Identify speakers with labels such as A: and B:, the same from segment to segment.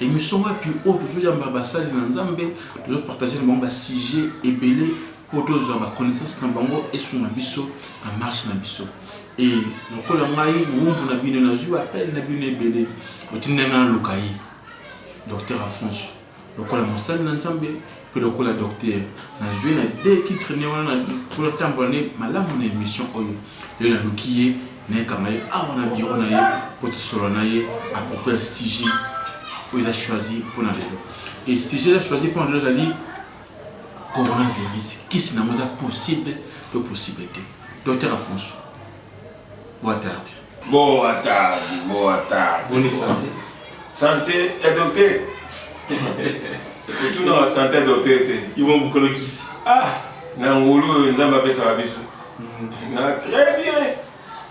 A: Emission wapi oyo tozo yamba ba sali na nzambe tozo partager na bango ba sujet ebele po tozwa ba connaissance na bango esunga biso na marche na biso e lokola ngai mowumbu na bino nazwi ba appel na bino ebele botinda ngai naluka ye docteur afonso lokola mosali na nzambe Pe lokola docteur na zui na de titre ne wana po na tambola ne malamu na emission oyo lelo na luki ye naye kanga ye awa na bureau na ye po to solola na ye a propos ya sujet oyo eza choisi po na lelo et sujet eza choisi po na lelo ezali coronavirus kisi na ngo eza possible to possible te docteur Afonso Boa tarde. Boa tarde, boa tarde. Boni santé. Santé
B: ya docteur. Kotuna wa santé ya docteur te. Ibo mokolo
A: kisi. Ah, na ngulu
B: oyo Nzambe apesaka biso. Mm. Na très bien.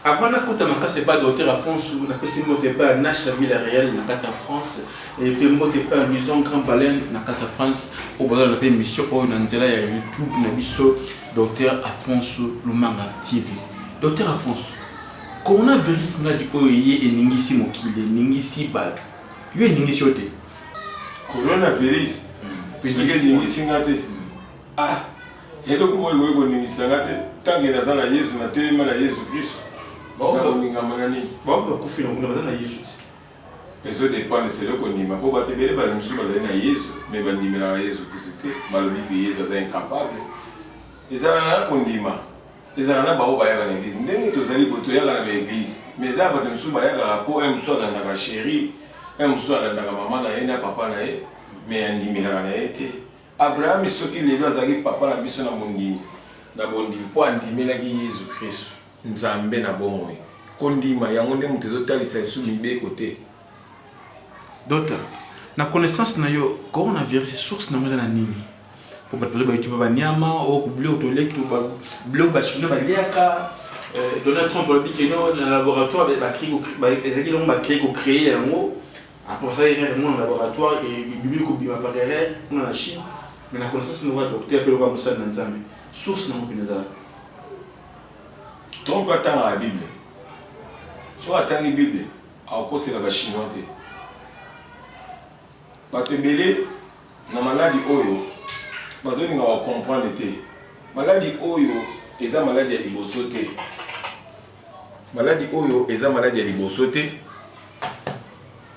B: Avant na kota
A: makasi epai docteur Afonso, napesi mbote epai ya Nasha Villa Real na kati ya France, epe mbote epai ya Maison Grand Baleine na kati ya France, oyo bazala na mpe mission oyo na nzela ya YouTube na biso. Docteur Afonso Lumanga TV. Docteur Afonso, coronavirus maladi oyo eye eningisi mokili, eningisi bato. Yo eningisi yo te? Coronavirus
B: soki eningisi nga te, ah eloko moko ekoki koningisa nga te tant que naza na Yezu, natelemi na Yezu Kristu, nakoningama na nini? Baoyo bakufi na kuna
A: baza na Yezu te? Ezo
B: dependre selon ko ndima po batu ebele ba mususu bazali na yezu mais ba ndimelaka yezu kristu te ba lobi que yezu aza incapable ezalaka na ko ndima ezalaka na ba oyo bayaka na eglise ndenge tozali bo toyaka na ba eglise mais eza batu mususu bayakaka po un mususu alandaka cherie un mususu alandaka maman na ye na papa na ye mais andimelaka na ye te Abrahami soki lelo azalaki papa na biso na mondimi, na bondimi, mpo andimelaki Yezu Kristu. Nzambe na bomoi. Kondima yango nde moto ezotalisa lisusu mibeko te.
A: Docteur, na connaissance na yo, coronavirus source na yango eza na nini? Mpo bato bazo bayetuba ba niama, o biloko toliaki, biloko ba chinois baliaka, Donald Trump alobi que non na laboratoire ba ezalaki eloko ba cree ko creer yango. Après ça, il rêve mon laboratoire et il bimi ko bima par erreur, on a Chine, mais la connaissance nous va docteur pe loka musala na Nzambe. Source na mopina za.
B: Trompe atanga la Bible. Soit atangi Bible, akosela ba chinois te. Bato ebele na maladi oyo bazolinga wa comprendre te. Maladi oyo eza maladi ya liboso te. Maladi oyo eza maladi ya liboso te.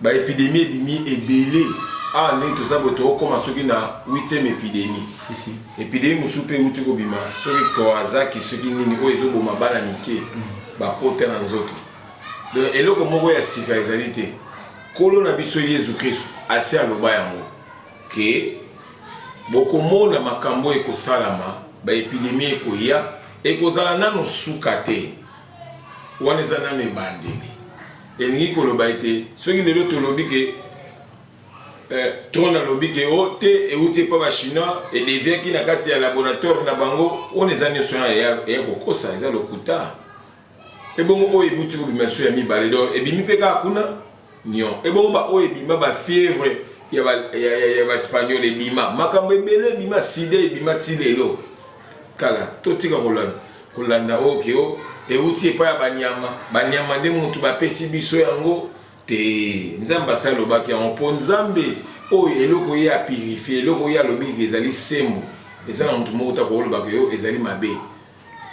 B: Ba epidemie ebimi ebele awa ndenge toza boye tokokoma soki na 8e epidemie si, si. epidemie
A: mosusu mpe
B: euti kobima soki kawazaki soki nini oyo ezoboma bana mike mm. bapota na nzoto donc eloko moko ya sika ezali te nkolo na biso yesu kristu asi aloba yango ke bokomona makambo ekosalama baepidemie ekoya Ekozala nanu suka te. Wana eza nanu ebandeli. Elingi koloba ete soki lelo tolobi ke eh, trone alobi ke o oh, te euti epa ba chinois edeviaki na kati ya laboratoire na bango, wana eza nyonso wana ya kokosa, eza lokuta. Ebongo oyo ebuti kobima su ya mibale donc ebimi mpe kaka kuna nyon. Ebongo ba oyo ebima ba fievre ya ba ya, ya, ya ba espagnol ebima makambo ebele ebima sida ebima ti lelo kala totika kolanda kolanda oyo ke o euti epai ya banyama banyama nde motu bapesi biso yango te nzambe asi alobaki yango mpo nzambe oyo eloko ye apurifie eloko ye alobi ezali sembo eza na motu moko ta koolobaka yo ezali mabe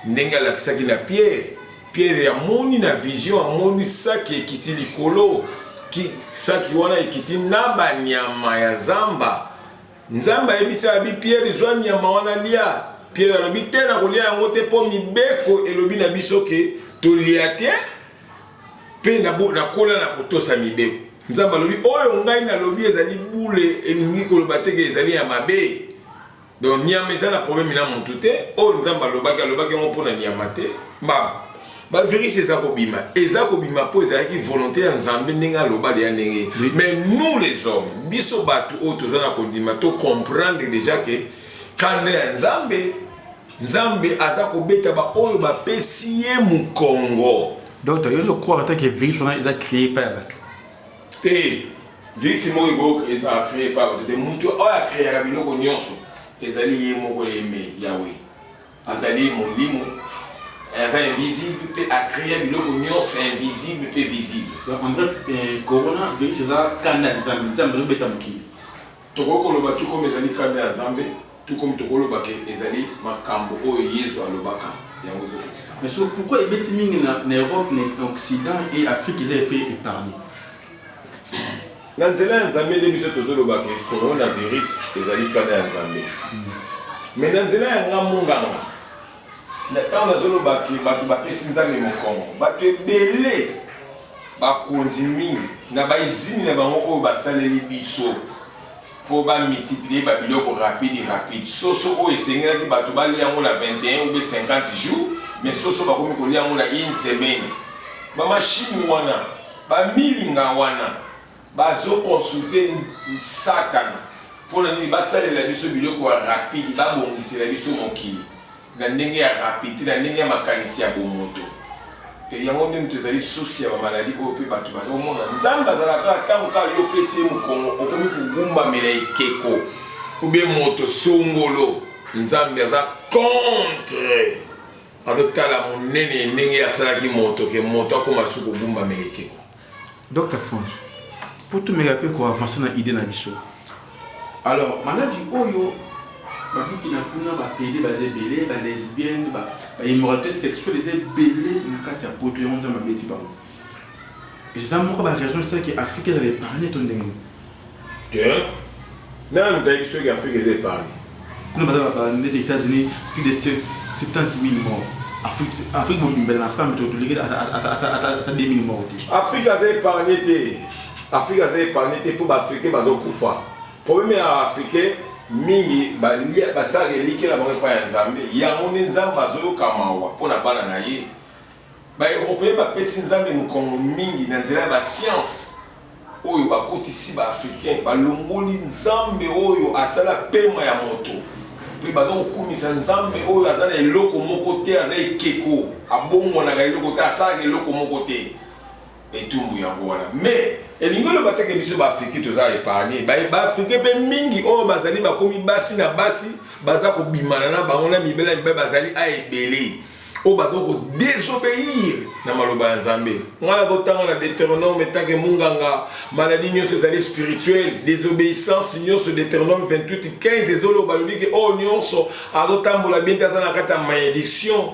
B: Ndenge alakisaki na Piere, Piere amoni na vision, amoni saki ekiti likolo, ki saki wana ekiti na banyama ya zamba. Nzambe ayebisi abi Piere, zwa nyama wana lia. Piere alobi te, nakolia yango te, mpo mibeko elobi na biso ke tolia te, mpe nakola na kotosa mibeko. Nzambe alobi oyo ngai nalobi ezali bule, elingi koloba te ke ezali ya mabe. Donc nyama eza na problème na mutu te. Oyo Nzambe alobaki alobaki yango mpo na nyama te. Mbaba. Ba virus eza kobima, eza kobima mpo ezalaki volonté ya Nzambe ndenge aloba leya ndenge. Oui. Mais nous les hommes, biso bato oyo toza na kondima to comprendre déjà que kanda ya Nzambe Nzambe aza kobeta ba oyo bapesi ye mukongo. Donc yo zo
A: croire ata que virus wana eza créé pa ya bato. Te,
B: vice moko ekoki ezala cree par bato te. Moto oyo akreaka biloko nyonso ezali ye moko yeme Yawe. Azali molimo, aza invisible mpe akrea biloko nyonso ya invisible mpe visible. Donc en bref, eh,
A: corona virus eza kanda ya Nzambe, Nzambe azobeta mokili. Tokoki koloba
B: tout comme ezali kanda ya Nzambe, tout comme tokoki koloba que ezali makambo oyo Yezu alobaka, yango ezo kokisama. Mais
A: sikoyo pourquoi ebeti mingi na na Europe, na occident et Afrique eza epe epargne?
B: Na nzela ya Nzambe nde biso tozo loba que coronavirus ezali kanda ya Nzambe. Mais na nzela ya nga munganga, Na ntango nazoloba ke bato bapesi Nzambe mokongo, bato ebele, bakonzi mingi na ba izini na bango oyo basaleli biso mpo ba multiplier ba biloko rapide rapide, soso oyo esengelaki bato balia yango na 21 ou bien 50 jours, mais soso bakomi kolia yango na une semaine. Ba machines wana, ba milinga wana. Bazo consulter satana pona nini basalela biso biloko ya rapide babongisela biso mokili na ndenge ya rapide te na ndenge ya makanisi ya bomoto e yango nde moto ezali sosi ya bamaladi oyo mpe bato bazomona nzambe azalaka ntango kaka yo opesi ye mokongo okomi kogumbamela ekeko ube moto songolo nzambe aza contre azotala monene ndenge asalaki moto ke moto akoma su kogumbamela ekeko Docteur
A: Franch, po tomeka pe ko avancer na idee na biso. Alors maladi oyo ba biki na kuna ba pede baza ebele, ba lesbiennes, ba immoralite sexuelle eza ebele na kati ya poto yango Nzambe abeti bango. Eza moko ba raison esalaki Afrique ezala epargne to ndenge nini? Hein?
B: Nani tayebi soki Afrique eza epargne? Kuna baza ba ba
A: neti Etats-Unis plus de 70000 morts. Afrique Afrique mobimba na ensemble to toleki ata ata ata ata 2000 morts te. Afrique aza epargne
B: te. Afrique aza epargne te mpo ba Africains bazo kufa. Problème ya Africain mingi balia basala eliki na bango epai ya Nzambe yango nde Nzambe azoyoka mawa mpo na bana na ye. Ba Europeen bapesi Nzambe mokongo mingi na nzela ya ba sciences oyo bakotisi ba Africains, balongoli Nzambe oyo asala pema ya moto mpe baza kokumisa Nzambe oyo aza na eloko moko te, aza ekeko, abongwanaka eloko te, asalaka eloko moko te. etumbu yango wana mais elingi oloba te ke biso baafrike toza epargne baafrike mpe mingi oyo bazali bakomi basi na basi baza kobimana na bango na mibele ya mibale bazali a ebele oyo baza kodesobeir na maloba ya nzambe ngai nakotanga na deuteronome etanke munganga maladi nyonso ezali spirituel desobéissance nyonso deuteronome 28 15 ezoloba alobi ke oyo nyonso azotambola bien te aza na kati ya malédiction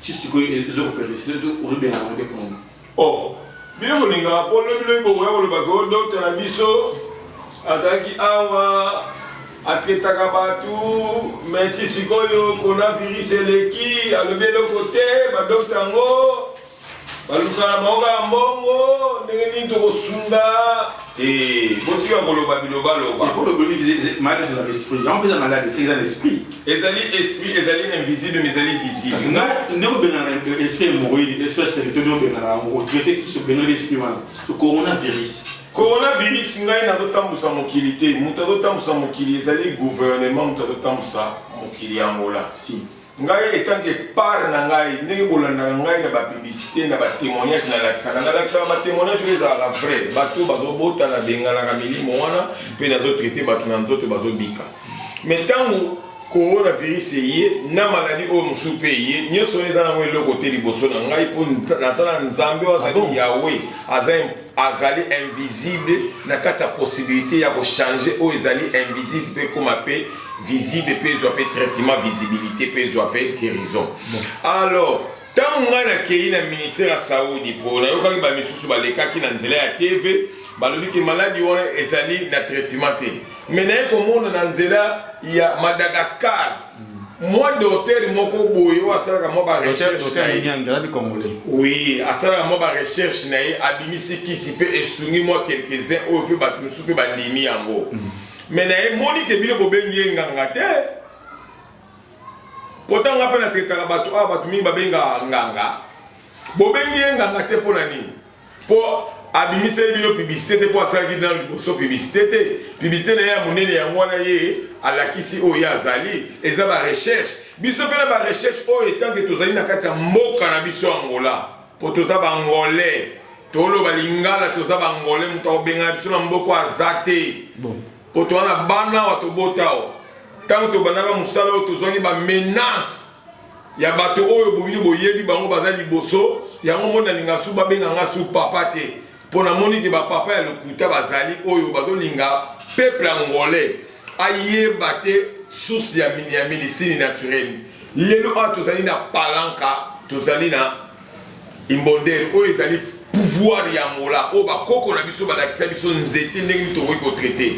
A: ti sikoyo ezo kofelisite to ozobenga yango nde pona oh
B: bino bolinga po lobi lobi bokoya kolobaka o dokta na biso azalaki awa atraitaka bato me ti sikoyo coronavirus eleki alobi eloko te badokta yango balukana bango kaka mbongo ndenge nini tokosunga Te, botika koloba bilobaloba. Te, bolobeli
A: malade eza na esprit. Yango mpenza malade esi eza na esprit. Ezali esprit,
B: ezali invisible, mais ezali visible. Kasi nde obengana
A: esprit hemorroïde, esprit seri, to nde obengana yango, otraite kiso, obengana esprit wana. So coronavirus. Coronavirus ngai
B: nazotambusa mokili te. Moto azotambusa mokili ezali gouvernement, moto azotambusa mokili ya Angola. Si. Ngai
A: etant que
B: part na ngai ndenge bolandaka ngai na ba publicité na ba témoignage na lakisaka na lakisaka ba témoignage oyo ezalaka vrai bato bazo bota na bengalaka milimo wana pe nazo traiter bato na nzoto bazo bika mais tango coronavirus eye na maladi oyo mosusu mpe eye nyonso wana eza nango eloko te liboso na ngai mpo nazala nzambe oyo azali ah yawe aza azali invisible na kati ya possibilité ya ko changer oyo ezali invisible mpe ekoma mpe visible mpe ezwa mpe traitement visibilité mpe ezwa mpe guérison alors ntango ngai nakei na ministère ya saudi mpo nayokaki bamisusu balekaki na nzela ya tv balobi ke maladi wana ezali na traitement te me naye komona na nzela ya madagascar mwa doter moko boye oyo asalaka mwa barecherche na ye oui asalaka mwa barecherche na ye abimisi kisi mpe esungi mwa quelques-uns oyo mpe bato mosusu mpe bandimi yango mm. me na ye moni ke bino bobengi ye nganga te mpo ntango nga mpe natetaka bato awa bato mingi babengaka nganga bobengi ye nganga te mpo na nini Po abimiseli bino publicite te po asalaki nanu liboso publicite te. Publicite na ye ya monene yango wana ye alakisi oyo ye azali. Eza ba recherche. Biso pe na ba recherche oyo etant que tozali na kati ya mboka na biso Angola. Po toza ba Angolais. Toloba lingala toza ba Angolais mutu akobenga biso na mboka oyo aza te. Mpo toza na bana awa, tobota awa. Ntango tobandaka mosala oyo, tozwaki ba menaces ya bato oyo bobino boyebi bango, baza liboso yango. Moni nalinga su babenga nga su papa te, mpo namoni ke ba papa ya lokuta bazali oyo bazolinga peuple angolais ayeba te source ya medicine naturelle. Lelo awa tozali na Palanca, tozali na Imbondeiro oyo ezali pouvoir ya Angola oyo ba koko na biso balakisa biso nzete ndenge nini tokoki ko traiter.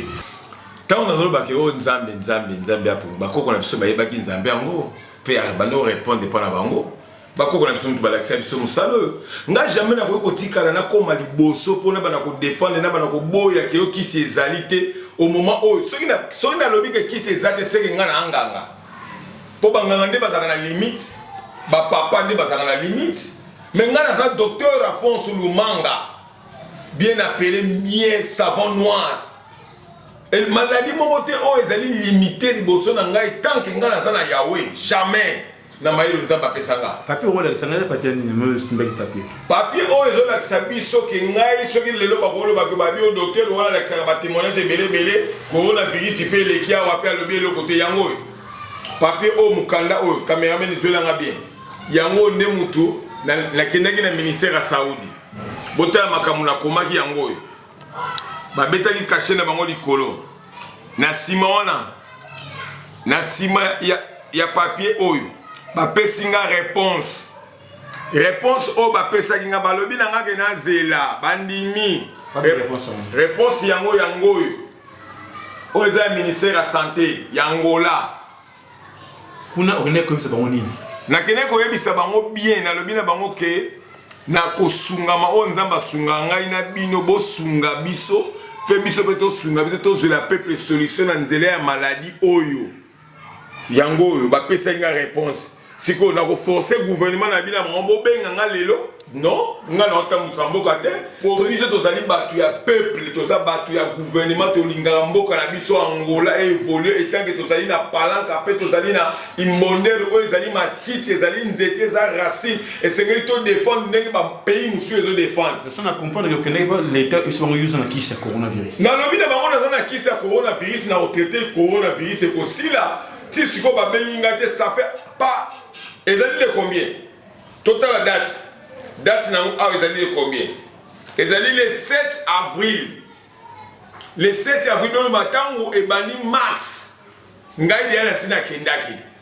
B: Tango nazolobaka oyo oh, Nzambe Nzambe Nzambe ya Pumba, bakoko na biso bayebaki Nzambe yango mpe abandi orepondre mpo na bango bakoko na biso moto balakisa biso mosala oyo nga jamais nakoki kotikala nakoma liboso mpo nabana kodefendre nabana koboya keyo kisi ezali te omoma oyo soki nalobi ke kisi eza te seke nga na anganga po ba nganga nde bazalaka na limite ba papa nde bazalaka na limite mais ngai naza docteur Afonso Lumanga bien appelé bien savant noir Et maladie moko te oyo ezali limite liboso na ngai tant que ngai naza na Yahweh jamais na mayelo nzambe apesa nga papier okolakisa ngai
A: papier nini oyo esimbaki papier Papier oyo
B: ezo lakisa biso ke ngai soki lelo bako loba ke ba bio docteur wana alakisaka ba temoignage ebele ebele corona virus pe eleki awa pe alobi eloko te yango oyo papier oyo mukanda oyo cameraman zwela nga bien yango nde mutu nakendaki na, na ministère ya Saudi botala makambo nakomaki yango oyo babetaki kashe na bango likolo na nsima wana na nsima ya, ya papier oyo bapesi nga reponse Réponse oyo bapesaki nga balobi na nga ke nazela bandimi réponse yango yango oyo oyo eza ya ministère ya santé ya Angola
A: kuna okende koyebisa bango nini nakende koyebisa
B: bango bien nalobi na bango ke na kosungama oyo nzambe asunga ngai na bino bosunga biso mpe biso mpe tosunga biso tozwela peuple solution na nzela ya maladi oyo yango oyo bapesaki nga réponse sikoyo nakoforce gouvernement na bino bango bobenga nga lelo non nga naotambusa mboka te po biso tozali bato ya peuple toza bato ya gouvernement tolingaka mboka na biso angola evolue etanke tozali na palanka mpe tozali na imbondere oyo ezali matiti ezali nzete eza racine esengeli todefendre ndenge bapays mosusu ezodefendre Ça na comprendre que okendaki ba
A: leta esi bango yuzu na kisi ya coronavirus nalobi na bango naza na
B: kisi ya coronavirus na kotraite coronavirus ekosila ti sikoyo babengi ngai te ça fait pas ezali le combien totala date date nango awa ezali le combien ezali le 7 avril le 7 avril oyo matango ebandi mars ngai deya nasi nakendaki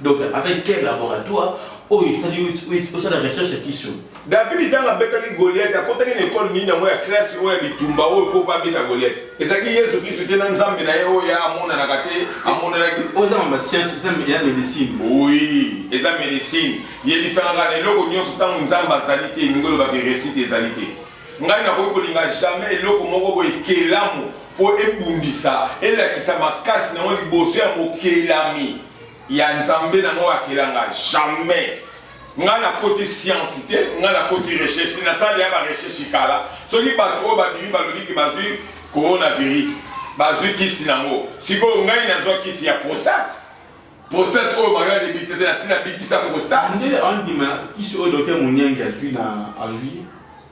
A: Donc avec quel laboratoire oyo esali osala recherche ya kiso davidi ntango abetaki
B: goliate akotaki na ekole nini yango ya klasi oyo ya bitumba oyo mpo babeta goliate ezalaki yesu kristu te na nzambe na ye oyo ya amonanaka te amonanaki oyo eza mama sianse
A: eza ya medicine oui
B: eza medicine yebisangaka na eloko nyonso ntango nzambe azali te elingi olobaka resite ezali te ngai nakoki kolinga jamais eloko moko boye kelamu mpo ebundisa elakisa makasi na yango liboso ya mokelami ya nzambe na ngo akela nga jamais nga nakoti science te nga nakoti recherche te nasali ya barecherche kala soki bato oyo babimi balobi ke bazwi coronavirus bazwi kisi nango sikoyo ngai nazwa kisi ya prostate prostate oyo bango yalebisa te nasi nabikisa
A: prostate
B: ndele
A: andima kisi
B: oyo
A: dote moniange
B: azwi
A: na azwi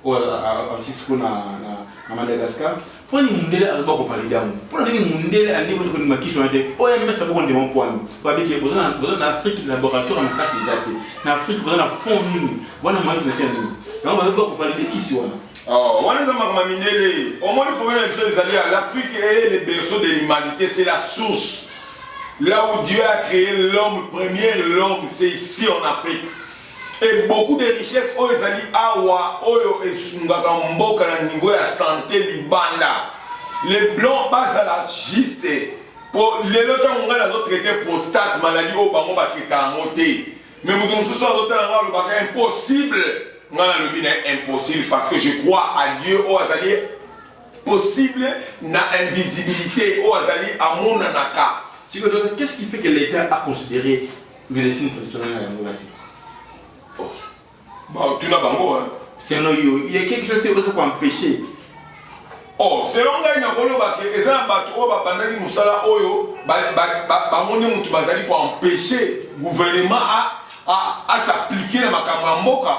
A: oyo azwi siko na madagascar Poni mundele azoba ko valide yango. Pona nini mundele alingi ko ndima kiso na te? OMS na boko ndima kwani. Ba biki boza na boza na Afrique laboratoire na kasi eza te. Na Afrique boza na fond nini? Wana mazi na sien nini? Yango ba ba ko valide kisi wana. Oh, wana eza
B: makambo ya mindele. Omoni problème ya biso ezali ya l'Afrique est le berceau de l'humanité, c'est la source. Là où Dieu a créé l'homme, premier l'homme, c'est ici en Afrique. Et beaucoup de richesses oyo ezali awa oyo esungaka mboka na niveau ya santé libanda les blancs bazala juste po lelo ntango ngai nazotraite prostate maladi oyo bango bakeka yango te me moto mosusu azotala ngai alobaka impossible ngai nalobi na impossible parce que je crois à dieu oyo azali possible na invisibilité oyo azali amonanaka sikoyo donc qu'est ce qui
A: fait que l'état a considéré Medecine traditionnelle na yango
B: basi. Oh. Ba tuna bango hein. Selon yo, il y
A: a quelque chose qui peut empêcher.
B: Oh, selon ngai nakoloba ke eza na bato oyo babandaki mosala oyo bamoni moto bazali koempêche gouvernement asapplike na makambo ya mboka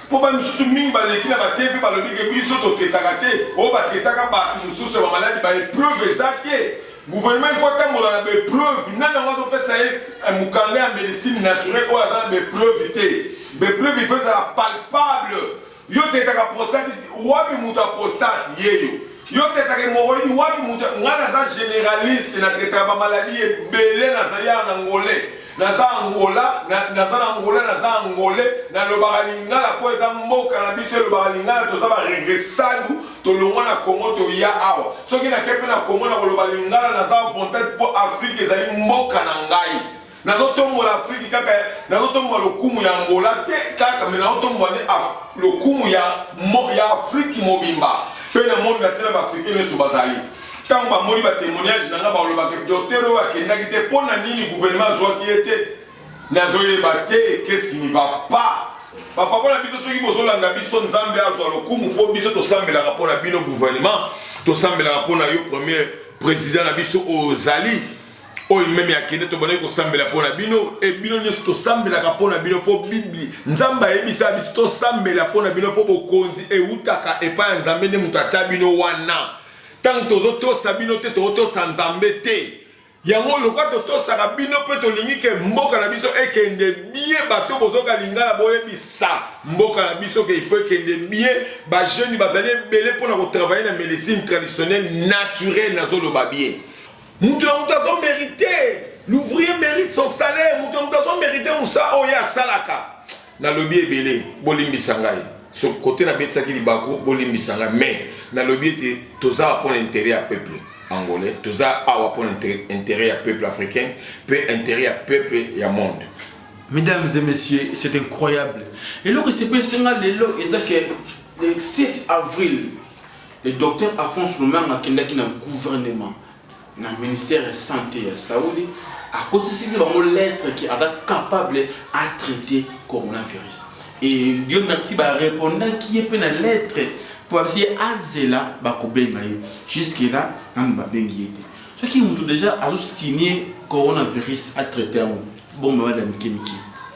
B: mpo ba misusu mingi baleki na bate mpe balobi ke biso toketaka te oyo baketaka bato mosusu ya bamaladi baepreuve eza te Gouvernement il faut atambola na bepreuve nani yango azopesa ye eh, mokanda ya medicine naturel oyo aza na bepreuve te bepreuve il faut ezala palpable yo tetaka prostate wapi moto ya prostate yeyo yo tetaka hemoroïde wapi moto ngai naza généraliste na tetaka bamaladi ebele nazali awa na ngolais naza angola naza na angola naza angole nalobaka lingala mpo eza mboka na biso elobaka lingala toza baregresadu tolongwa na congo toya awa soki nake mpe na congo nakoloba lingala naza avantage mpo afrike ezali mboka na ngai nazotombola afrike kaka nazotombola lokumu ya angola te kaka me nazotombola ne lokumu ya, ya afrike mobimba mpe na moni natina baafrike nyonso bazali Tango ba moni ba temoignage na nga ba loba ke docteur oyo akendaki te mpo na nini gouvernement azwaki ye te nazo yeba te qu'est-ce qui ne va pas bapapa na biso soki bozolanda biso nzambe azwa lokumu mpo biso tosambelaka mpo na bino gouvernement tosambelaka mpo na yo premier président na biso oyo ozali oyo meme akende tobandaki kosambela mpo na bino e bino nyonso tosambelaka mpo na bino mpo biblia nzambe ayebisa biso tosambela mpo na bino mpo bokonzi eutaka epai ya nzambe nde moto atya bino wana Tango tozo tosa bino te toko tosa nzambe te yango lokwa totosaka bino mpe tolingi ke mboka na biso ekende bien bato bozoka lingala boyebisa mboka na biso ke ifo ekende bien bajeune bazali ebele mpona kotravaille na médecine traditionnelle naturelle nazoloba bien Mutu na mutu azo merite. L'ouvrier merite son salaire. Mutu na mutu azo merite musa oyo asalaka. Na lobi ebele, bolimbisa ngai. So kote na betisaki libaku, bolimbisa ngai. Mais na lobi ete toza pour l'intérêt ya peuple angolais, toza awa pour l'intérêt ya peuple africain, pe intérêt ya peuple ya monde. Mesdames et
A: messieurs, c'est incroyable. Et là, c'est pas le 7 avril Le Docteur Afonso Lomanga akendaki na gouvernement na ministère ya sante ya Saudi, akotisili bango lettre que aza capable a traiter coronavirus. Et Dieu merci ba repondaki ye pe na lettre po babisi ye azela bakobenga ye. Jusque là nanu babengi ye te. Soki mutu deja azo signer coronavirus a traiter yango, bomba bana mike mike.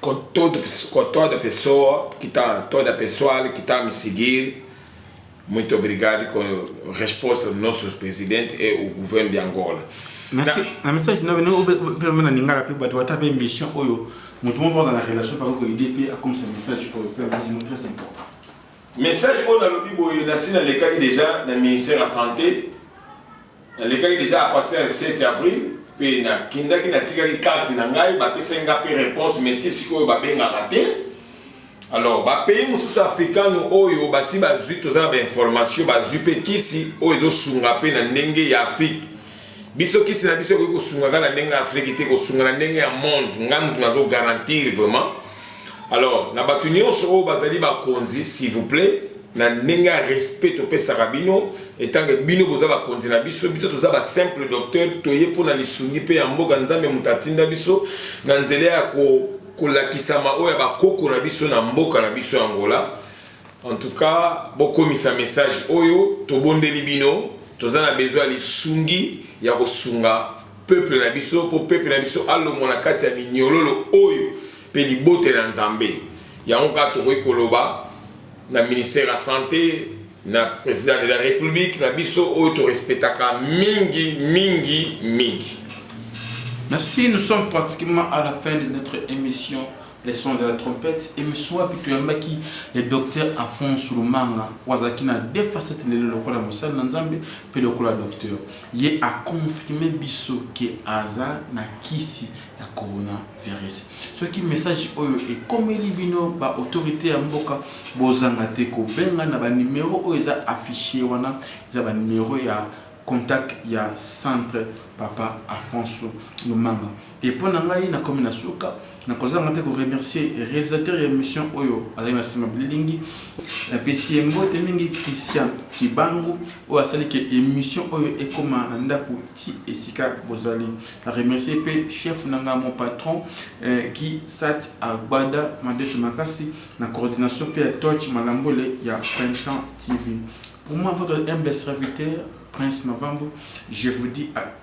B: Ko toda pesso, ko toda pessoa que tá, toda pessoal que tá me seguir, muito obrigado com resposta do nosso presidente e o governo de Angola. Merci. Na, na message
A: na bino pe na lingala pe bato bata pe mission oyo moto moko aza na relation par exemple idée pe akomisa message oyo pe akosi no très important. Message
B: oyo nalobi boye nasi nalekaki déjà na ministère ya santé Nalekaki dejà à partir ya le 7 avril mpe nakendaki natikaki carte na ngai bapesaki ngai mpe reponse mais ti sikoyo babengaka te alors bapays mosusu africano oyo basi bazwi toza na bainformation bazwi mpe kisi oyo ezosunga mpe na ndenge ya afrique biso kisi na biso ekoki kosungaka na ndenge ya afrique te kosunga na ndenge ya monde ngai moto nazo garantir vraiment alors na bato nyonso oyo bazali bakonzi s'il vous plaît na ndenge ya respect topesaka bino etange bino boza bakonzi na biso biso toza ba simple docteur toye mpo na lisungi mpe ya mboka nzambe moto atinda biso na nzela ya ko kolakisama oyo ya bakoko na biso na mboka na biso ya angola en tout cas bokomisa message oyo tobondeli bino toza na besoin ya lisungi ya kosunga peuple na biso, mpo peuple na biso alongwa na kati ya minyololo oyo mpe libote na Nzambe. Yango kaka tokoki koloba na ministère ya sante, na president de la republique na biso oyo torespectaka mingi mingi mingi.
A: Merci, nous sommes pratiquement à la fin de notre émission. le son de la trompette emission wapi toyambaki le docteur Afonso Lumanga oyo azalaki na deux facettes lelo lokola mosali na Nzambe mpe lokola docteur ye aconfirme biso ke aza na kisi ya coronavirus soki message oyo ekomeli bino ba autorité ya mboka bozanga te kobenga na banimero oyo eza affiche wana eza banimero ya contact ya centre papa Afonso Lumanga Et pona ngai na komi na suka na kozanga te ko remercier realisateur ya emission oyo azali na sima bililingi na pesi ye mbote mingi Christian Kibangu oyo asali ke emission oyo ekoma na ndaku ti esika bozali na remercier pe chef na nga mon patron eh, Guy Sat Agbada Madete Makasi na coordination pe ya Touch Malambole ya Printemps TV pour moi votre humble serviteur Prince Mavambo je vous dis à